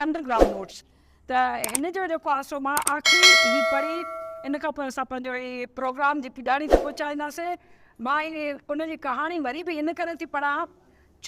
Under ground notes ته هن جو جيڪو آسرو مان آخري هي پڙهي ان کان پوء اسان پنهنجو هي پروگرام جي پڄاڻي تي پهچائينداسين مان هي ان جي ڪهاڻي وري به ان ڪري ٿي پڙهان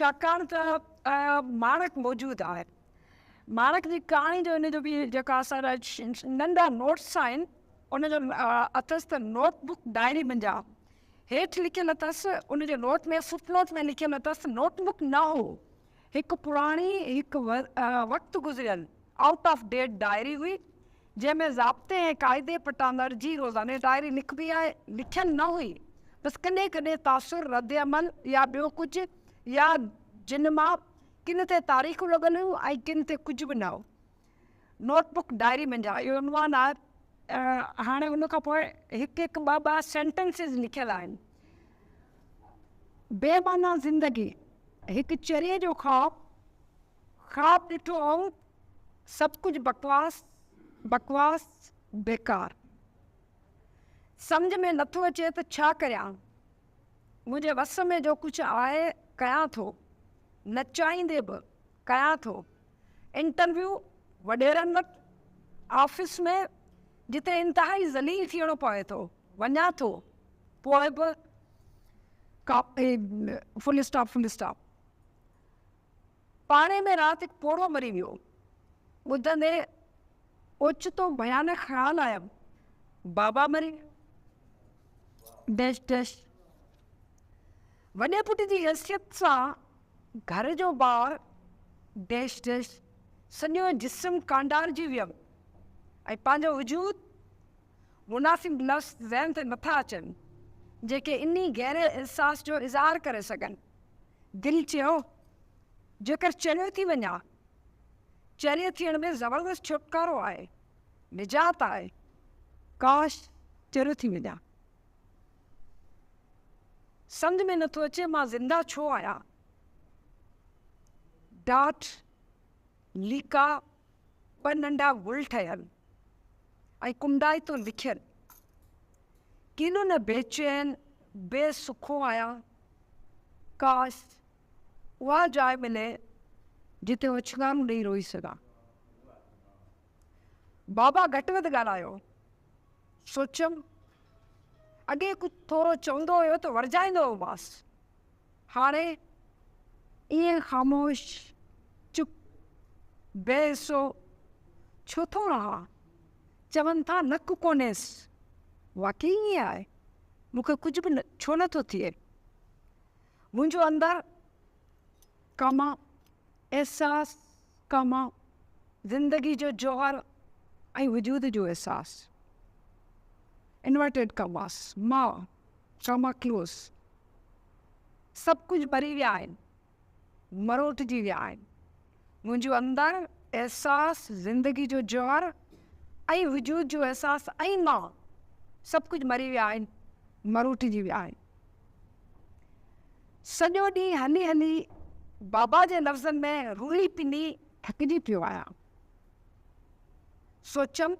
ڇاڪاڻ ته ماڻڪ موجود آهي ماڻڪ جي ڪهاڻي جو ان جو به جيڪا اسان جا ننڍا نوٽس آهن ان جو اٿس ته نوٽ بڪ ڊائري منجا هيٺ لکيل اٿس ان جو نوٽ ۾ فٽ نوٽ ۾ لکيل اٿس نوٽ بڪ نه هو هڪ پراڻي هڪ وقت گذريل آئوٽ آف ڊيٽ ڊائري هئي جنهن ۾ ضابطي ۽ قاعدي پٽاندڙ جي روزاني ڊائري لکبي آهي لکيل نه هئي بس ڪڏهن ڪڏهن تاثر رد عمل يا ٻيو ڪجهه يا جن مان ڪن تي تاريخون لڳل هيون ۽ ڪن تي ڪجهه به نه هو نوٽ بڪ ڊائري منجهان اهو عنوان آهي هاڻي ان کان پوء هڪ هڪ ٻه ٻه سينٽنسز لکيل آهن بي معنيٰ زندگي هڪ چريي جو خواب خواب ڏٺو هوم سڀ ڪجهه بڪواس بڪواس بيڪار سمجهه ۾ نٿو اچي ته ڇا ڪريان منهنجي وس ۾ جو ڪجهه آهي ڪيان ٿو نه چاهيندي به ڪيان ٿو انٽرويو وڏيرن وٽ آفيس ۾ جتي انتهائي ذليل ٿيڻو پوي ٿو وڃان ٿو پوء به فل اسٽاپ فل اسٽاپ پاڙي ۾ رات هڪ پوڙهو مري ويو ٻڌندي اوچتو ڀيانڪ خيال آيم بابا مري ڊيش ڊيش وڏي پٽ جي حيثيت سان گهر جو ٻار، ڊيش ڊيش، سڄو جسم ڪانڊارجي ويم ۽ پنهنجو وجود مناسب لفظ ذهن تي نٿا اچن جيڪي انهي گهري احساس جو اظهار ڪري سگهن. دل چيو جيڪر چريو ٿي وڃان. چريي ٿيڻ ۾ زبردست ڇوٽڪارو آهي، نجات آهي. ڪاش چريو ٿي وڃان. سمجهه ۾ نٿو اچي مان زنده ڇو آهيان. ڊاٽ ليڪا ٻه ننڍا گل ٺهيل ۽ ڪنڊائتو لکيل ڪيڏو نه بيچين بي سکو آهيان ڪاش اها جاء ملي جتي اوڇنگارون ڏئي روئي سگهان. بابا گهٽ وڌ ڳالهايو. سوچيم اڳي ڪجهه ٿورو چوندو هيو ته ورجائيندو هومانس. هاڻي ائين خاموش، چپ، بي حسو ڇو ٿو رهان؟ چون ٿا نڪ ڪونهيس. واقعي ائين آهي. مون کي ڪجهه به ڇو نٿو ٿئي. منهنجو اندر ڪم، احساس، ڪم، زندگي جو جوهر ۽ وجود جو احساس، Inverted Commas، ماء، Comma Close، سڀ ڪجهه مري ويا آهن، مروٽجي ويا آهن، منهنجو اندر، احساس، زندگي جو جوهر ۽ وجود جو احساس ۽ ماء، سڀ ڪجهه مري ويا آهن، مروٽجي ويا آهن. سڄو ڏينهن هلي هلي بابا جي لفظن ۾ روئي پني ٿڪجي پيو آهيان. سوچيم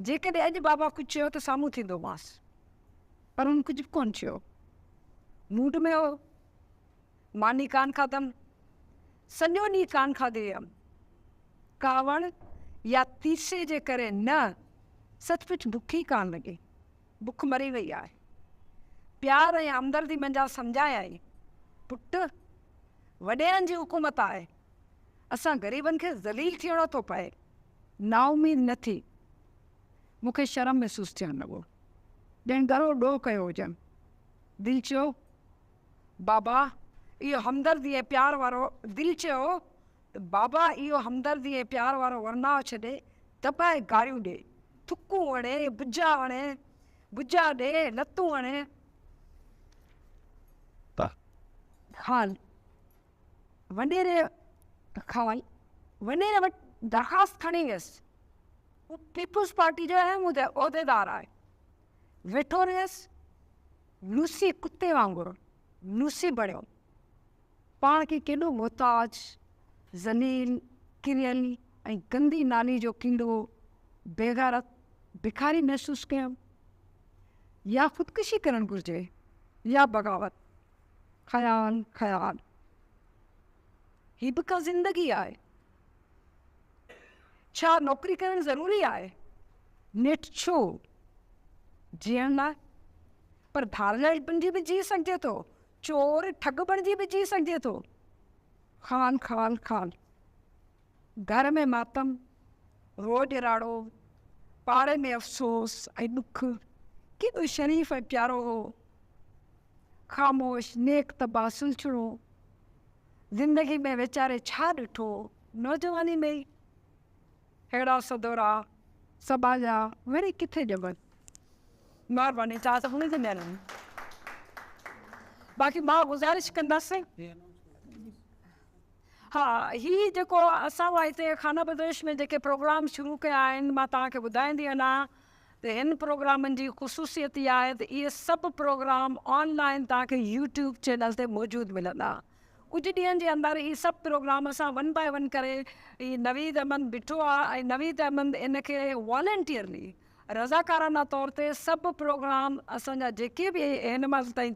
جيڪڏهن اڄ بابا ڪجهه چيو ته سامهون ٿيندومانس. پر هن ڪجهه به ڪونه چيو. موڊ ۾ هو. ماني ڪانه کاڌم. سڄو ڏينهن ڪانه کاڌي هيم. ڪاوڙ يا تيسي جي ڪري نه، سچ پچ بک ئي ڪانه لڳي. بک مري وئي آهي. پيار ۽ همدردي منجهان سمجهايائين، پٽ! وڏيرن جي حڪومت آهي. اسان غريبن کي ذليل ٿيڻو ٿو پئي. نااميد نه ٿي. مون کي شرم محسوس ٿيڻ لڳو، ڄڻ ڳرو ڏوهه ڪيو هجن. دل چيو، بابا اهو همدردي ۽ پيار وارو دل چيو ته بابا اهو همدردي ۽ پيار وارو ورناء ڇڏي ته به گاريون ڏي. ٿڪون اڻي، بجا اڻي، بجا ڏي، لتون اڻي. پ خان وڏيري خان وڏيري وٽ درخواست کڻي ويس. هو پيپلز پارٽي جو اهم عهديدار آهي. ويٺو رهيس. لوسي ڪتي وانگر لوسي بڻيو. پاڻ کي ڪيڏو محتاج، ذليل، ڪريل ۽ گندي نالي جو ڪيڙو، بيغيرت، بکاري محسوس ڪيم. يا خودڪشي ڪرڻ گهرجي يا بغاوت. خيال خيال. هي به ڪا زندگي آهي؟ ڇا نوڪري ڪرڻ ضروري آهي؟ نيٺ ڇو؟ جيئڻ لاء. پر ڌارلائي بنجي به جيئي سگهجي ٿو. چور ٺڳ بڻجي به جي سگهجي ٿو. خان خان خان. گهر ۾ ماتم، روڄ راڙو، پاڙي ۾ افسوس ۽ ڏک. ڪيڏو شريف ۽ پيارو هو. خاموش، نيڪ طبع، سلڇڻو. زندگي ۾ ويچاري ڇا ڏٺو؟ نوجواني ۾ ئي ههڙا سڌورا سٻاجها وري ڪٿي ڄمن؟ مھرباني توھان سڀني جي مھرباني باقي مان گذارش ڪندس ھا ھي جيڪو اسان وٽ ھتي خانه بدوش ۾ جيڪي پروگرام شروع ڪيا آھن مان توھان کي ٻڌائيندي ھنا ته ھن پروگرامن جي خصوصيت اھا آھي ته اھي سڀ پروگرام آن لائن توھان کي يوٽيوب چينل تي موجود ملندا ڪجهه ڏينھن جي اندر اھي سڀ پروگرام اسان ون باء ون ڪري اھي نويد احمد بٺو آھي ۽ نويد احمد ان کي والنٽيئرلي رضاڪارانه طور تي سڀ پروگرام اسان جا جيڪي به هن مهل تائين